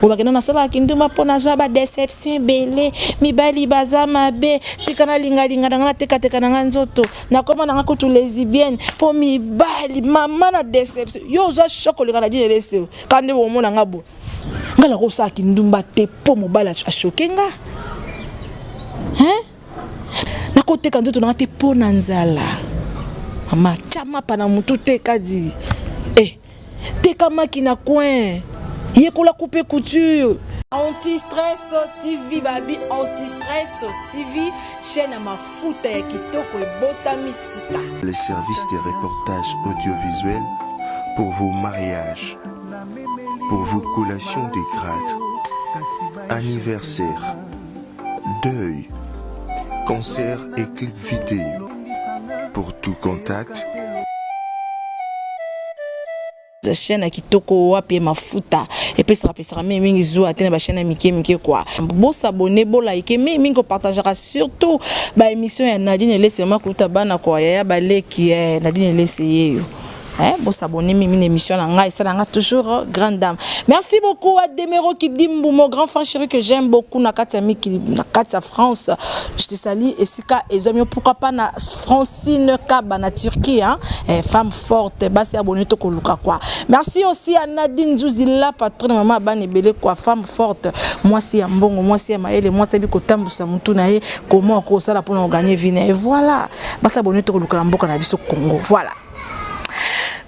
olobaki no nasalaka kindumba mpo nazwa badeception ebele mibali baza mabe tika nalingalinga na ngai natekateka na ngai nzoto nakoma na ngai kutu lesibienne mpo mibali mama na deception yo ozwa shok oleka na dine leseo ka nde bomona ngai bo ngai nakosala kindumba te mpo mobali ashoke nga nakoteka nzoto na ngai te mpo na nzala mama tya mapa na motu te kadi Teka maki na coin. Yekola coupe couture. Anti-stress TV babi Anti-stress TV chaîne ya mafuta ya kitoko ebotami sika. Les services de reportage audiovisuel pour vos mariages, pour vos collations de grade, anniversaire deuil, concert et clip vidéo. Pour tout contact, chaîne ya kitoko wapi ye mafuta epesaka pesaka mingi mingi zuwa te na bachaîne ya mike mike kua bosabone bolaike mingi mingi kopartagaka surtout baémission ya nadine elesi mama kouta bana kua yaya baleki eh, nadine elesi yeyo Hein, bo s'abonner mimi na émission na ngai ça nga toujours euh, grande dame. Merci beaucoup à Demero Kidimbu mon grand frère chéri que j'aime beaucoup na Katia Miki na Katia France. Je te salue et Sika et Zomio pourquoi pas na Francine Kaba na Turquie hein. Eh, femme forte ba se abonner to koluka quoi. Merci aussi à Nadine Zouzi la patronne maman bani belé quoi femme forte. Moi si ya mbongo, moi si ya maele, moi si biko tambusa mutu na ye comment ko sala pour gagner vie et voilà. Ba s'abonner to koluka na mboka na biso Congo. Voilà.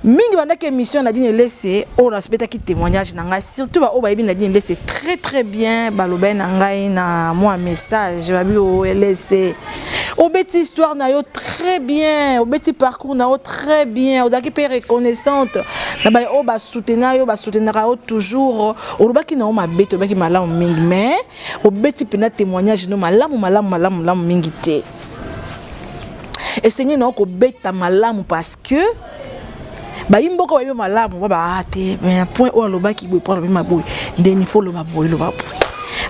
mingi bandaki émission na dine lese oyo nasbetaki témoignage na ngai surtout baoyo bayebi na dine lese très très bien balobaki na ngai na mwa message babi olese oh, obeti histoire na yo très bien obeti parcours na yo très bien ozalaki mpe reconnaissante na baye oyo basoutenir yo basoutenaka yo toujours olobaki na yo mabe tolobaki malamu mingi mais obeti mpenza témoignage no malamu malamu malamu malamu mingi te esengeli na yo kobeta malamu parce que bayimboka bayebi malamu baba ah, te na point oyo alobaki boye mpo alobi maboye ndeni fo loba boye loba boye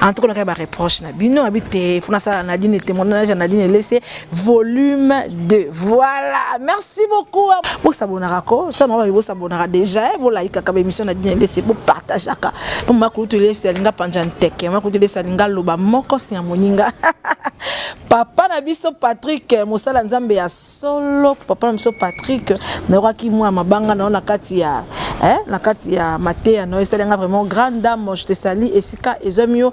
en tout cas nakaya bareproche na bino abi te fo nasala nadine témoignage ya nadine elese volume 2 voilà merci Merci beaucoup. Bo s'abonnaka ko, ça mama bo s'abonnaka déjà, eh, bo like ka émission na dine laisser bo partageaka. Pour ma kutu laisser linga panja nteke, ma kutu laisser linga loba moko si ya moninga. papa na biso Patrick mosala nzambe ya solo papa na biso Patrick nayokaki mwa mabanga na yo na kati ya eh, na kati ya mateya na yo esali nga vraiment grande dame je te sali esika ezwami yo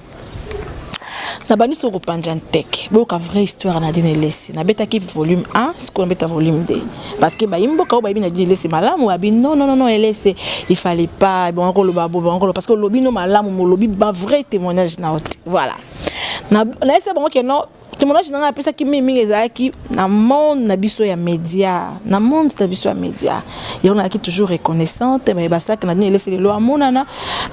nabandisi okopanja nteke boyoka vraie histoire na dine elesi nabetaki volume 1 sikoyo nabeta volume 2 parce que bayi mboka oyo bayebi na dine elesi malamu babi non non non elesi il fallait pas ebonga koloba bo ebonga koloba parce que olobi no malamu molobi ba vrai témoignage na ote voilà na na esa bango ke non témoignage na ngai apesaki mingi mingi ezalaki na monde na biso ya média na monde na biso ya média yango nalaki toujours reconnaissante baye basalaki na dine elesi lelo amonana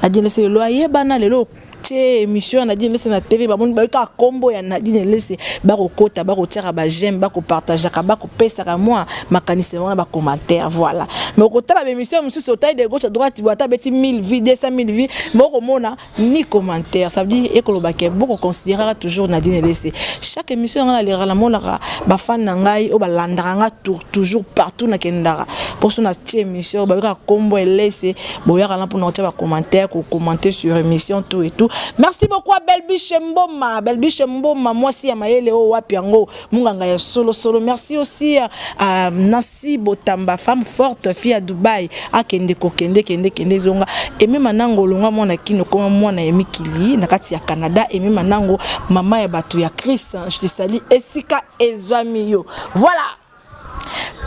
na dine elesi lelo ayebana lelo tie émission ya Nadine Lese na TV bamoni bayoki kaka kombo ya Nadine Lese bakokota bakotiaka ba j'aime bakopartageaka bakopesaka mwa makanisi wana ba commentaire voilà mais okotala ba émission mosusu otali de gauche à droite bo ata beti 1000 vues 200 000 vues mais okomona ni commentaire ça veut dire ekoloba ke boko considérera toujours Nadine Lese chaque émission nga naleraka namonaka ba fan na ngai oyo balandaka nga toujours partout nakendaka mposo na tie émission bayokaka kombo ya Lese boyaka na pona kotia ba commentaire ko commenter sur émission tout et tout merci beaucoup à Belbiche Mboma Belbiche Mboma mwasi ya mayele o oh, wapi yango munganga ya solo solo merci aussi à, à Nancy Botamba femme forte fille à Dubaï akende ah, kokende kende kende zonga et même nango longa mwana kino koma mwana ya mikili na kati ya Canada et même nango mama ya batu ya Chris hein. je te salue esika ezwami yo voilà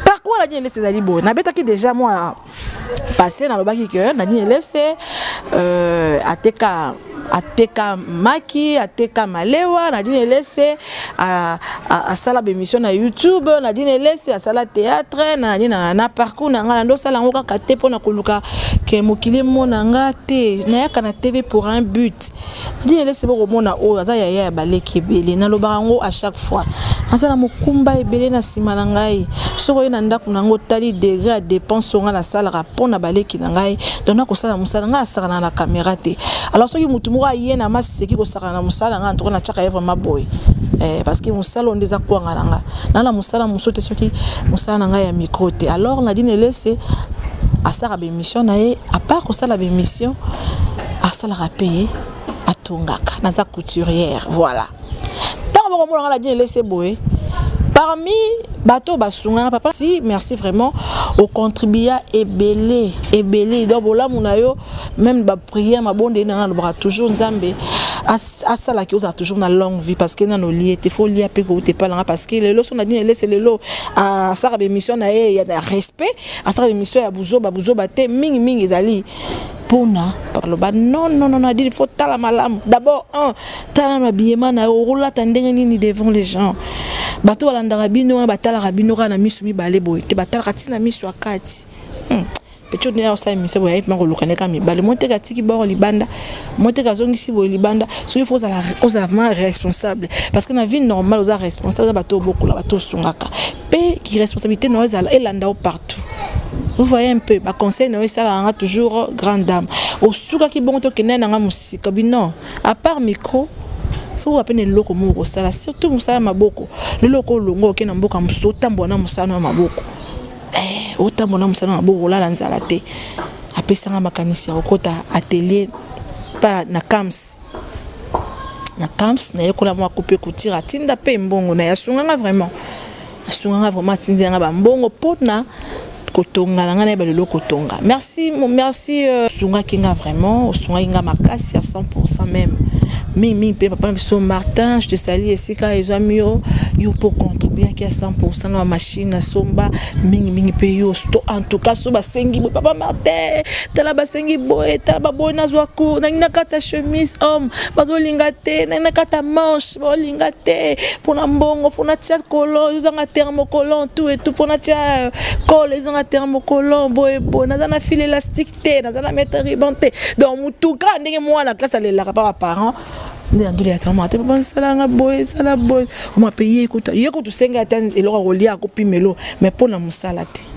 parcours ya nadine elese ezali boye nabetaki déjà mwa passé nalobaki ke nadine elese euh, ateka ateka maki ateka malewa nadine elese asala bemission na youtube nadine elese asala théâtre na nani na parcours na ngai nando osala yango kaka te mpo na koluka ke mokili emona nga te nayaka na tv pour un but Nadine elesi boko mona oyo aza yaya ya baleki ebele nalobaka yango à chaque fois aza na mokumba ebele na nsima na ngai soki oye na ndako na yango otali degre ya dépense oyo ngai nasalaka mpo na baleki na ngai donc nakosala mosala ngai nasakana na caméra te alors soki motu moko aye na maseki kosakana na mosala ngai antuka natyaka ye vraiment boye eh, parce que mosala oyo nde eza kwanga na ngai naa na mosala mosusu te soki mosala na ngai ya micro te alors nadine elese asala bemission na ye apart kosala bemission asalaka mpe ye atongaka naza couturière voilà ntango bakomonaka na dine lese boye parmi bato basungaka papa si merci vraiment ocontribua ebele ebele donc bolamu na yo meme baprière mabondeli na nga alobaka toujours nzambe asalaki ozala toujours na longue vie parce que nano olie te fo olia mpe koute epai nanga parce que lelo so na dini elese lelo asalaka bemission na ye ya respect asalaka bemission ya buzoba buzoba te mingimingi ezali pona baloba non non non adili faut tala malamu d'abord un tala na biyema na yo okolata ndenge nini devant les gens bato balandaka bino wana batalaka bino kaka na miso mibale boye te batalaka ntina miso ya kati hmm. pecho nde akosala emission boye ayepima koluka nde kaka mibale moteka atiki boko libanda moteka azongisi boye libanda soki fo ozala vraiment responsable parce que na vie normale oza responsable oza bato obokola bato osungaka pe ki responsabilité na yo ezala elanda yo partout vous voyez un peu baconseil na yo esalaka nga toujours grande dame osukaki bongo tokende na nga mosika bino à part micro soki oya mpe na eloko moko kosala surtout mosala ya maboko lelo oko olongo oke na mboka mosusu otambola na mosala ya maboko eh, otambola na mosala ya maboko olala nzala te apesanga makanisi ya kokota atelier pa na cams na camps nayekola mwa coupe kutira atinda mpe mbongo na ye asunganga vraiment asunganga vraiment atindela nga bambongo mpo na kotonga na ngai nayeba lelo kotonga merci merci euh, osungaki nga vraiment osungaki nga makasi ya 100 meme mingimingi mpe papa na biso martin je te sali esika ezwami yo yo mpo contribuaki ya 100 na bamashine asomba mingimingi mpe yo en tout cas so basengi boye papa martin tala basengi boye tala baboyi nazwa cour nangi nakata chemise homme bazolinga te nangi nakata manche baolinga te mpona mbongo mpona tia kolon ezozanga termocolon tout etout mpona tia kolo euh, ezanga termocolon boye boye naza na file élastique te naza na mètre riban te donc motuka ndenge mwana classe alelaka pa baparent nde na ndoli ya tama ata papa nsalanga boye esala boye omape ye kutu ye kutu senga ata eloko akolia akopimelo mais mpo na mosala te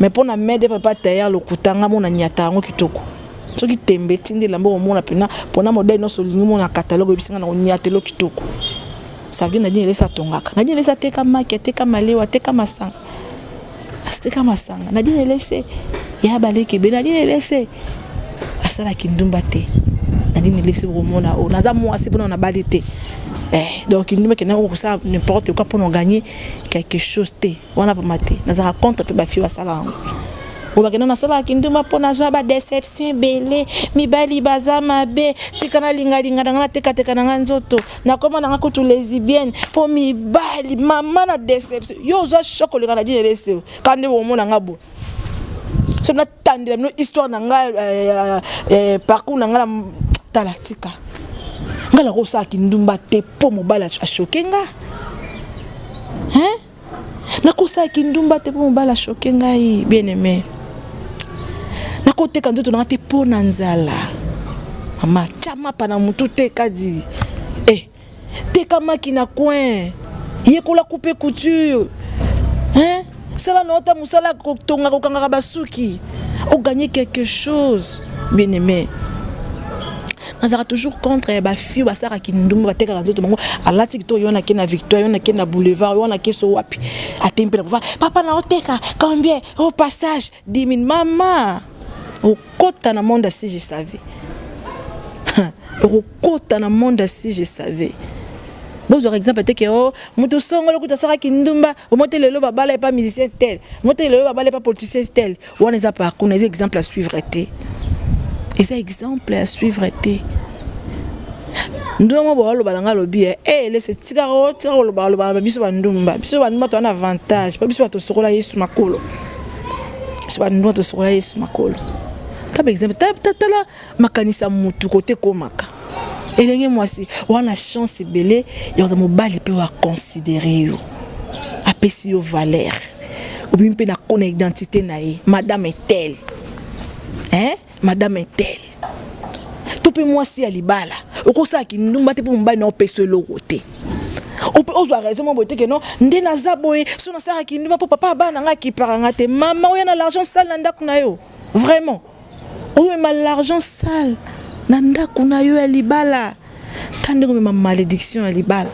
mais mpo na mede papa tailleur lokuta nga mona nyata yango kitoko soki tembe etindi elamba okomona mpena mpona modele nyonso olingi mona kataloge oyebisi nga na konyatelo kitoko savie nadine elesa atongaka nadine elesa ateka maki ateka malewa ateka masanga asiteka masanga nadine elese ya baleki ebe nadine elese asala kindumba te nadine elese okomona oyo oh, naza mwasi mpona nabali te eh, donc kindumba kenda okosala n'importe quoi mpona oganye quelque chose te wana vraimen te nazalaka contre mpe bafio basala yango oyo bakenda nasalaka kindumba mpo nazwa badeception ebele mibali baza mabe tika nalingalinga na nga natekateka na nga nzoto nakoma na nga kutu lesibienne mpo mibali mama na deception yo ozwa shok oleka na dina eleseo ka nde omona nga bo so natandela bino histoire na nga eh, eh, parcours na nga na tala tika nga nakosala kindumba te mpo mobali ashoke nga hein nakosala kindumba te mpo mobali ashoke ngai bien aime nakoteka nzoto nanga te mpo na nzala mama tya mapa na motu te kadi e eh, tekamaki na coin yekola coupe couture hein? sala na ota mosala kotonga kokangaka basuki oganye quelque chose bien aime nazalaka toujours contre eh, bafio basalaka kindumba batekaka nzoto bango alati kitoko yo nake na victoire yo nake na boulevard yo nake so wapi atempe na papa na oteka combien au passage 10 000 mama okota na monde si je savais okokota na monde si je savais bozwaka exemple te ke o oh, moto songolo kuta asalaka kindumba omote lelo babala epa musicien tel omote lelo babala epa politicien tel wana eza parcours na eza exemple à suivre te eza exemple à suivre te ndongo boaloba na ngai alobi e eh, eh, lese tikaka otika kolobaloba biso bandumba biso bandumba toza na avantage mpo biso batosokola yesu makolo biso bandumba tosokola yesu makolo taba exemple tala makanisa mutu kote komaka elenge mwasi wana chance ebele ya mobali mpe wa considere yo apesi yo valeur obimi mpe na kona identité na ye madame etel hein? madame etel to mpe mwasi ya libala okosala kindumba te mpo mobali na opesa eloko te ope ozwa raison mwa boye te keno nde naza boye so nasalaka kindumba mpo papa abana na ngai akipaka ngai te mama oya na l'argent sale na ndako na yo vraiment omema l'argent sale na ndako na yo ya libala ta ndenge omema malédiction ya libala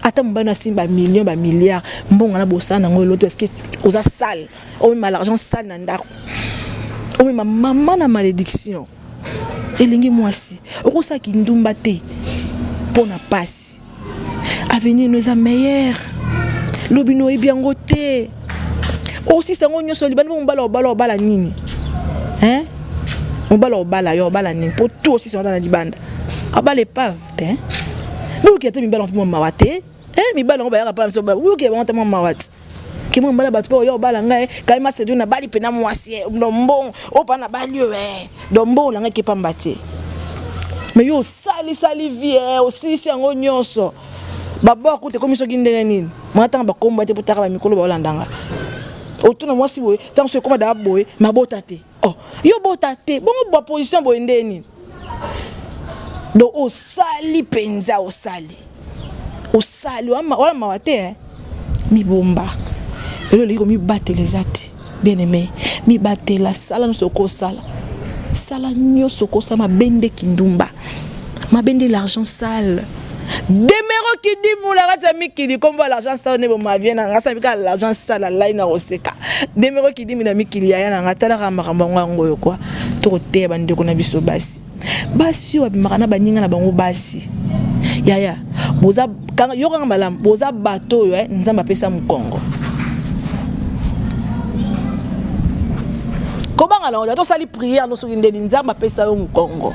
ata mobali na asimbi bamillion bamilliard mbongo na bosala nango eloto eske oza sale omema l'argent sale na ndako omema mama na malédiction elingi mwasi okosala kindumba te mpo na mpasi avenir no eza meilleur lobi no oyebi yango te osisa yango nyonso libandi mpo mobala obala obala nini hein mobala obala yo obala nini mpo tu osisa yango na libanda abala epave te bokete mibala mpe mwa mawa te mibala yango bayaka mpona biso bokete bango te mwa mawa te kimo mbala bato mpe oya obala ngai kai masedu nabali mpe na mwasi eh, lombongo oyo mpa nabali oyo eh, lombongo na ngai ke mpamba te me yo osalisali vie eh, osilisi yango nyonso babor kuta ekomi soki ndenge nini mwana ntango bakomba te mpo taka bamikolo baolandanga otuna mwasi boye ntango so ekoma daa boye mabota te oh yo bota te bongo ba position boye nde nini donc osali mpenza osali osali wana mawa te eh? mibomba elo olingi komibatela eza te bien aimé mibatela sala nyonso okosala sala nyonso okosala mabe nde kindumba mabende l'argent sale demero kidimu na kati ya mikili kombo ya l'argent sale nde bomavie na nga sabi kaka l'argent sale alai na koseka demero kidimu na mikili yaya na nga talaka makambo yango yango oyo kwa tokoteya bandeko na biso basi basi oyo babimaka na baninga na bango basi yaya boza yokanga malamu boza bato oyo eh, nzambe apesa mokongo kobanga na oyo tosali priere no soki ndeni nzambe apesa yo mokongo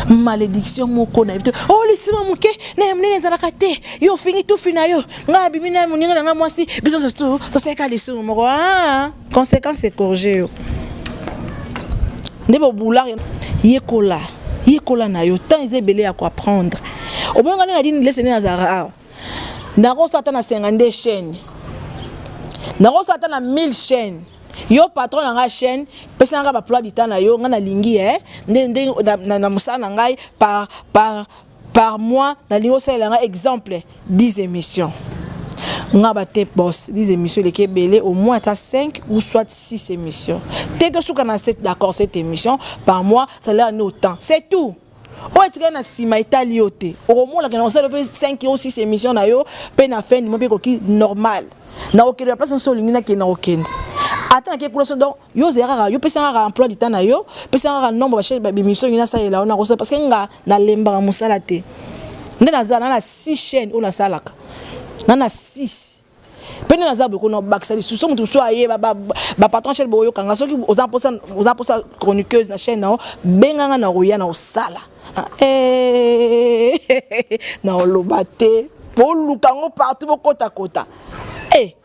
malédiction moko na ye te o oh, lisima moke na ya monene ezalaka te yo ofingi tufi na yo ngai abimi na moninga na ngai mwasi biso tosalaka lisumu moko ah! Consequence ecorge yo. Nde bo boulard yekola. Yekola na yo temps eza ebele ya ko apprendre. Omoni nga nde na dini leseni na zara awa. Nakosa ata na 52 chaîne. Nakosa ata na 1000 chaîne. yo patron na ngai chaîne pesa nanga ba plat du temps na yo ngai nalingi eh nde nde na, na, na mosala na ngai par par par mois nalingi osalela nga exemple 10 émissions nga ba te boss 10 émissions eleki ebele au moins ata 5 ou soit 6 émissions te tosuka na 7 d'accord cette émission par mois salaire ni autant c'est tout oyo etikali na nsima etali yo te okomonaka na kosala mpe 5 o 6 émission na yo mpe na fin nimo mpe ekoki normal na kokende na place nyonso olingi nakende na kokende ata nake kuna so donc yo ozela kaka yo pesa kaka emploi du temps na yo pesa kaka nombre bachaise babimisio ngi nasalela yo nakosala parce que nga nalembaka mosala te nde naza na na six chaîne oyo nasalaka na na six mpe nde naza boye kona bakisa lisusu so moto mosusu aye bapatron chaine boyokanga soki oza mposa chroniqueuse na chaîne na yo benganga na koya na kosala ah, eh, na oloba te boluka yango partout bokotakota e eh.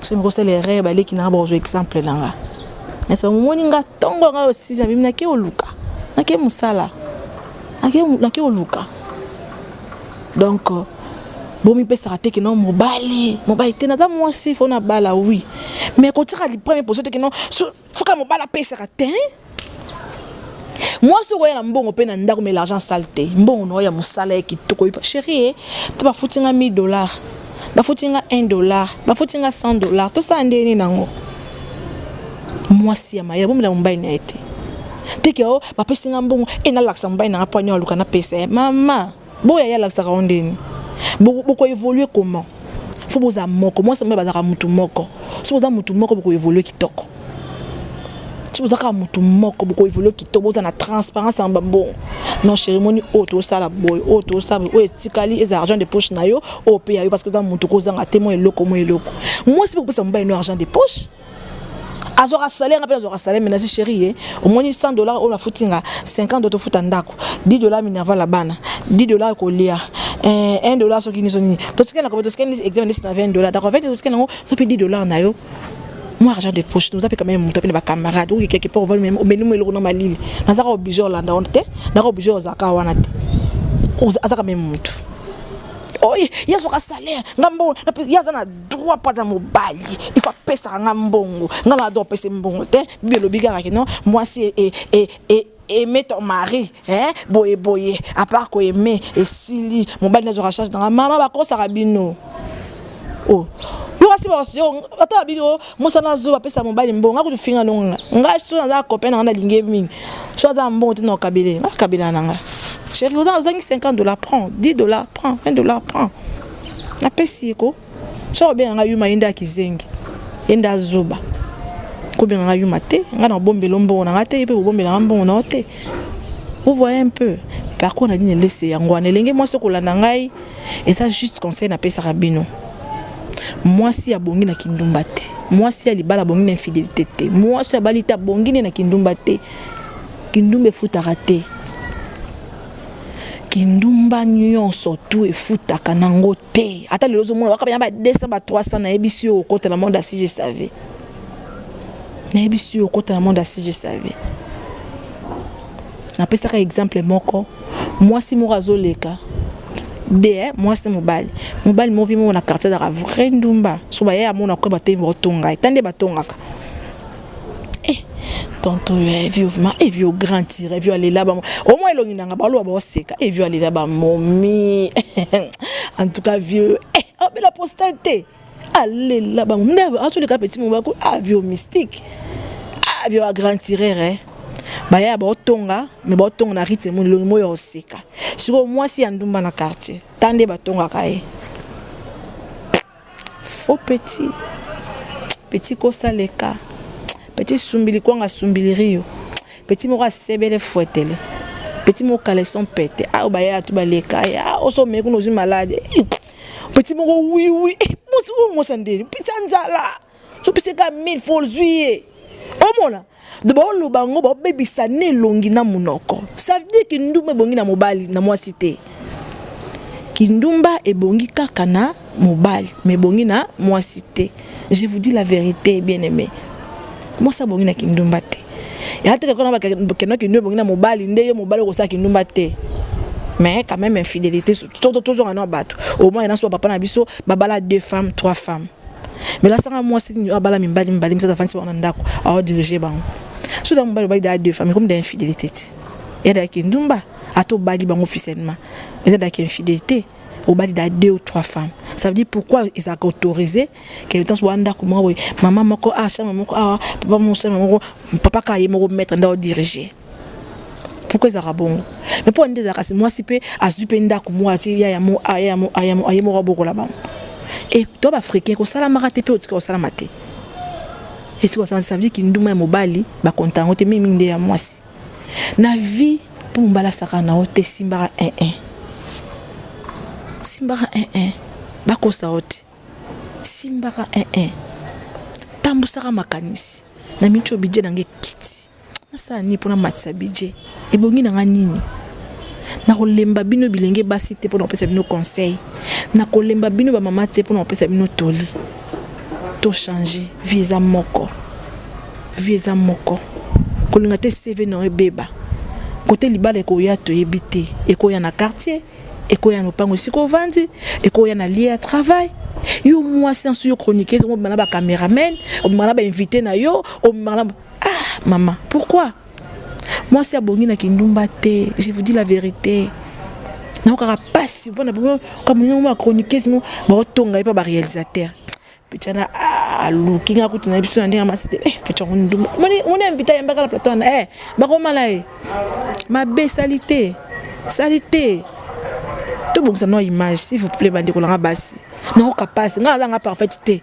soki mokosala erreur baleki nanga bakozwa exemple na nga nasa momoni nga ntongo nga osisi na bimi nake oluka nake mosala nake oluka donc bomipesaka te kino mobali mobali te naza mwasi fo nabala wi mais kotyaka lipreme poso te kino Fuka mobali apesaka te. mwasi okoya na mbongo mpe na ndako me l'argent sale te mbongo na oyo ya mosala ya kitoko chérie eh, te bafuti nga 1000 dollar bafuti nga 1 dollar bafuti nga 100 dollar tosala ndenge nini nango mwasi ya mayele bomela mobali na ye te teke o oh, bapesi nga mbongo e eh, nalakisa mobali na nga mpo anya aluka napesa ye mama Bo yaya alakisaka yo ndeni. Boko boko évoluer comment? Faut boza moko. Moi ça me bazaka mutu moko. Si boza mutu moko boko évoluer kitoko. Si boza ka mutu moko boko évoluer kitoko boza na transparence en bambo. Non chérie moni o to sala boy, o to sala o etikali eza argent de poche na yo, o pe ya yo parce que za mutu ko zanga te mo eloko mo eloko. Moi si boko pesa mobali no argent de poche. azwaka salaire nga mpe nazwaka salaire mais nazi chéri ye omoni 100 dollar oyo nafuti nga 50 do tofuta ndako 10 dollar minerval ya bana 10 dollar kolia 1 eh, dollar soki niso nini totikali na kobe totikali examen ndesi na 20 dollar d'accord 20 totikali yango so mpe 10 dollar na yo moi argent de poche toza mpe quand même moto mpe na bacamarade oki quelque part ovali omeli mo eloko na malili nazaka oblige olanda wana te naka oblige ozaka wana te azaka meme motu oye ye azwaka salaire ngambo ye aza na droit mpo aza mobali ifo apesaka nga mbongo nga na droit apese mbongo te bibi elobi kaka kino mwasi e, e, e, aimer ton mari hein boye boye à part ko aimer esili mobali nazo recharge dans maman ba kosa bino oh yo kasi ba yo ata bi yo mosana zo ba pesa mobali mbongo akutu finga longa ngai so naza copain na nga lingi mingi so aza mbongo te na kabele na kabela na nga chérie oza ozangi 50 dollars prends 10 dollars prends 20 dollars prends napesi ye ko soki obenga ngai yuma ye nde akizengi ye nde azoba kobenga ngai yuma te ngai na obombela mbongo na ngai te ye mpe bobombela ngai mbongo na yo te vous voyez un peu parcours na dini elese yango wana elenge mwasi okolanda ngai eza juste conseil napesaka bino mwasi ya bongi na kindumba te mwasi ya libala bongi na infidélité te mwasi abali te abongi ne na kindumba te kindumba efutaka te kindumba nyonso tu efutaka nango te ata lelo ozomona baka baya ba 200 ba 300 nayebisi yo okota na monde asi je savais nayebisi yo okota na monde asi je savais napesaka exemple moko mwasi moko azoleka de eh, mwasi na mobali mobali movi moko na quartier azaka vrai ndumba so baye amona kue batei baotonga ye ta nde batongaka Eh, tonton yo eh, vieux vraiment eh vieux grand tire vieux alela ba au moins elongi nanga ba loba oseka eh vieux alela ba momi en tout cas vieux eh oh bela postate alela ba momi a tous les cas petit moba ko ah vieux mystique ah vieux grand tireur eh baya baotonga me baotonga na rite molongi moyo ya oseka sikoyo mwasi ya ndumba na quartier ta nde batongaka ye Faux petit petit kosa leka petit sumbili kwanga sumbilirio petit moko asebele fwetele petit moko caleçon pete ayo ah, bayaya tu baleka ya ah, oso omeki kuna ozwi malade eh, petit moko wiwi mosi oyo mosa ndeli petit anzala soki se ka 1000 fois ozwi ye omona baoloba yango babebisa na elongi na monoko ça veut dire kindumba ebongi na mobali na mwasi te kindumba ebongi kaka na mobali ma ebongi na mwasi te je vous dis la vérité bien aimé mwasi abongi na kindumba te ya te kakona bakenda kindumba ebongi na mobali nde yo mobali okosala kindumba te mais quand même infidélité tozonga na bato au moins na so papa na biso babala deux femmes trois femmes mais la sanga mwasi nini abala mibali mibali misatu afandisi bango na ndako aodirige bango so ntango mobali obali daa deux famille comme da infidélité ti ya da kindumba ata obali bango officiellement eza daki infidélité obali da deux ou trois femmes ça veut dire pourquoi ezalaka autorisé kemitance boa ndako moko boye mama moko awa ah, chambre moko awa ah, papa moko chambre moko papa kaka ye moko maître nde odirige pourquoi ezalaka bongo mais mpo nde ezalaka mwasi mpe azwi mpe ndako moko atie ya ya mo aye ah, moko abokola bango e to baafricain kosalamaka te mpe otika kosalama te esika kosalama te ça veut dire kinduma ya mobali bakonta yango te mingi mingi nde ya mwasi na vie mpo mobali asaka na yo te simbaka 1 1 simbaka 1 1 bakosa yo te simbaka 1 1 tambusaka makanisi na mico bidje na nge kiti Nasala nini mpo namatisa bidje? Ebongi na ngai nini? Nakolemba bino bilenge basi te mpo na kopesa bino conseil. Nakolemba bino bamama te mpo na kopesa bino toli. Tochange, vie eza moko. Vie eza moko. Kolinga te CV na yo ebeba. Kote libala ekoya toyebi te. Ekoya na quartier, ekoya na lopango esika ovandi, ekoya na lieu ya travail, yo mwasi na suyo chroniqueuse omobima na ba cameraman omobima na ba invité na yo omobima na Ah maman, pourquoi mwasi abongi na kindumba te, je vous dis la verite naokaka mpasi mpona kamonyango ma chroniqueuse mo baotonga ye mpa baréalisateur pechana aluki ah, nga kutu na biso na ndenge masi te eh, pecha yango ndumba moni invité ayembaka na plateau wana eh, bakomala ye mabe sali te sali te tobongisa no image s'il vous plaît bandeko nanga basi naoka mpasi nga azanga parfaite te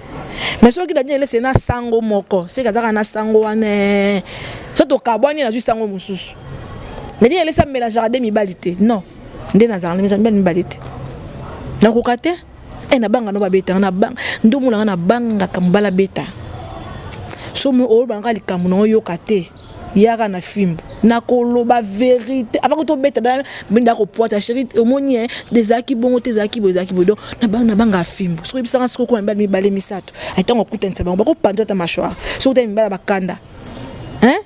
mais soki dadi elese na sango moko seke azaka na sango wana eh. so tokabwani nazwi sango mosusu dadi elese amelangeaka de mibali te non nde nazalaka na mibali mibali te nakoka te e nabanga no babetanga nabanga ndomona nga nabangaka mobala beta somo oyo bangaka likambo na oyoka te yaka na fimbo nakoloba verité avant ko tobeta dala benda kopwata chéri omoni e ezalaki bongo te ezalaki boye ezalaki boye donc nabanga fimbo soki oyebisaka soki okoma mibale mibale misato ntango okutanisa bango bakopanza ata mashware soki otali mibale bakanda hein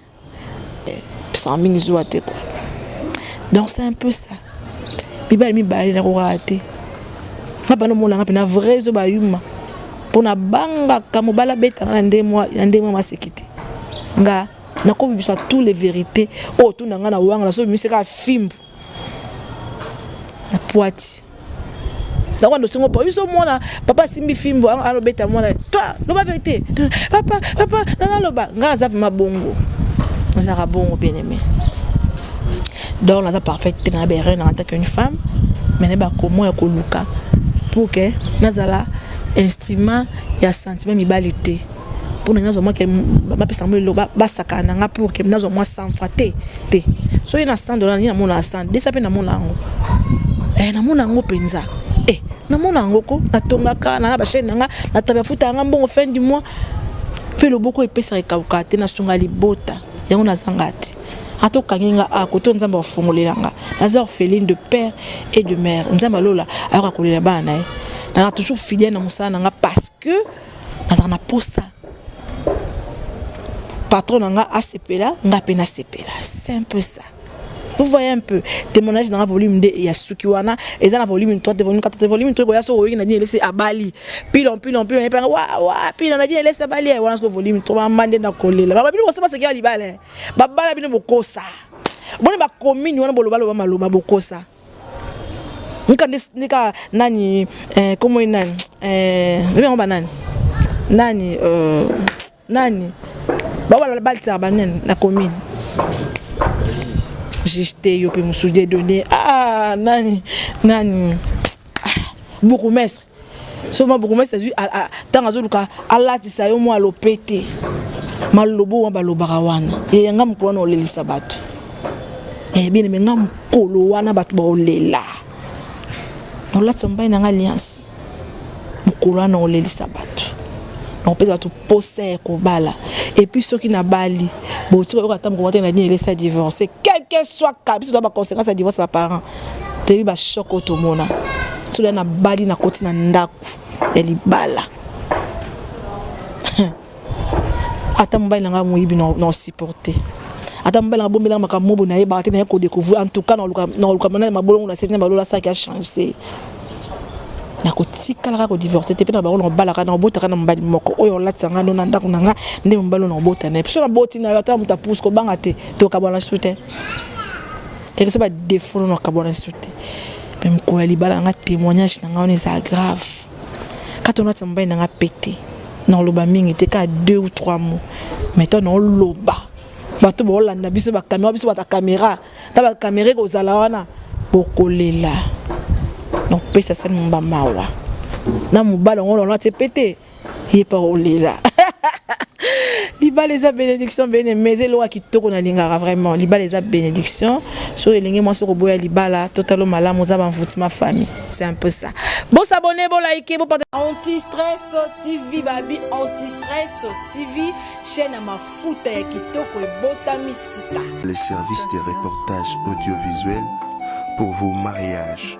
eh, pisanga mingi zuwa te kua donc c'est un peu ça mibale mibale nakokaa te nga bana omonanga mpe na vrai ezo bayuma mpo nabangaka mobali abetanga na ndenge mwa na ndenge mwa maseki te nga nakobimisa tous les vérité oyo oh, tuna nga na wanga nazobimisa kaka fimbu na poiti yango ndosengo po biso mwana papa asimbi fimbo alobeta mwana toi loba verité papa papa nana loba nga naza vrima bongo nazalaka bongo bien aimé donc naza parfaite te na berena en tant qu'une femme mais na bakomo ya koluka pour que nazala instrument ya sentiment mibali te mpo na nazwa mwa ke bapesa yango eloko basakana na nga pour ke nazwa mwa sanfa te te soki na 100 dollar nini namona ya 100 desa mpe namona yango eh, namona yango mpenza eh, namona yango ko natongaka nanga bachaine na nga natabia futa yanga mbongo fin du mois mpe loboko epesaka ekauka te nasunga libota yango nazanga te ata okangi nga a koto nzambe akofongolela nga naza orpheline de père et de mère nzambe alola ayoka kolela bana na ye nazala toujours fidèle na mosala na nga parce que nazala na posa patron na nga asepela nga mpe nasepela c'est un peu ça vous voyez un peu témoignage nanga volume nde ya suki wana eza na volume 3 te volume 4 te volume 3 ekoya soki oyoki nadine elesi abali pilon pilon pilon yepanga wa wa pilon nadine elesi abali wana soki volume 3 mama nde nakolela baba bino bosala baseki ya libala babala bino bokosa boni bakomini wana bolobaloba maloba bokosa nika nika nani eh, komo ye nani eh, lobi yango banani nani eh, nani babala balisaka banani na komini juge te yo mpe mosusu de donne ah nani nani ah, bourgmestre so ma bourgmestre azwi ntango azoluka alatisa yo mwa lopete malobo wana balobaka wana yeye nga mokolo wana olelisa bato eh, bien me nga mokolo wana bato baolela naolatisa mobali na nga alliance mokolo wana olelisa bato nakopesa bato posa ya kobala epuis soki nabali botika oyoka ata mokolo te na dini elesa divorce quelque soit kabiso na baconséquence ya divorce baparent toyebi ba choc oyo tomona soki na bali na koti na ndako ya libala ata mobali na ngai moyibi na osupporte ata mobali na bombelaka makambo mobo na ye baka te naye kodecouvrir en tout cas na koluka mona mabolongo na sete na balola saki ya change nakotikalaka kodivorce te mpe na bango na obalaka na obotaka na mobali moko oyo olatisa ngai no na ndako na ngai nde mobali oyo na obota na ye mpe so naboti na yo ata moto apuse kobanga te tokabwana su te Yaki so ba defaut no kabona sote. Mais mukolo ya libala nga témoignage na nga on eza grave. Kato na tsamba na nga pete. Na loba mingi te ka deux ou trois mots. Mais to na loba. Bato ba olanda biso ba caméra biso ba ta caméra. Ta ba caméra ko zala wana bokolela. Donc pesa sani mbamba wa. Na mubala ngolo na te pete. ye pa olela libala eza bénédiction bene mais eloko kitoko nalingaka vraiment libala eza bénédiction so elenge mwasi okoboya libala totalo malamu oza banvuti ma famille c'est un peu ça bosabone bolaike bopata antistress tv babi antistress tv chaîne ya mafuta ya kitoko ebotami sika les services de reportage audiovisuel pour vos mariages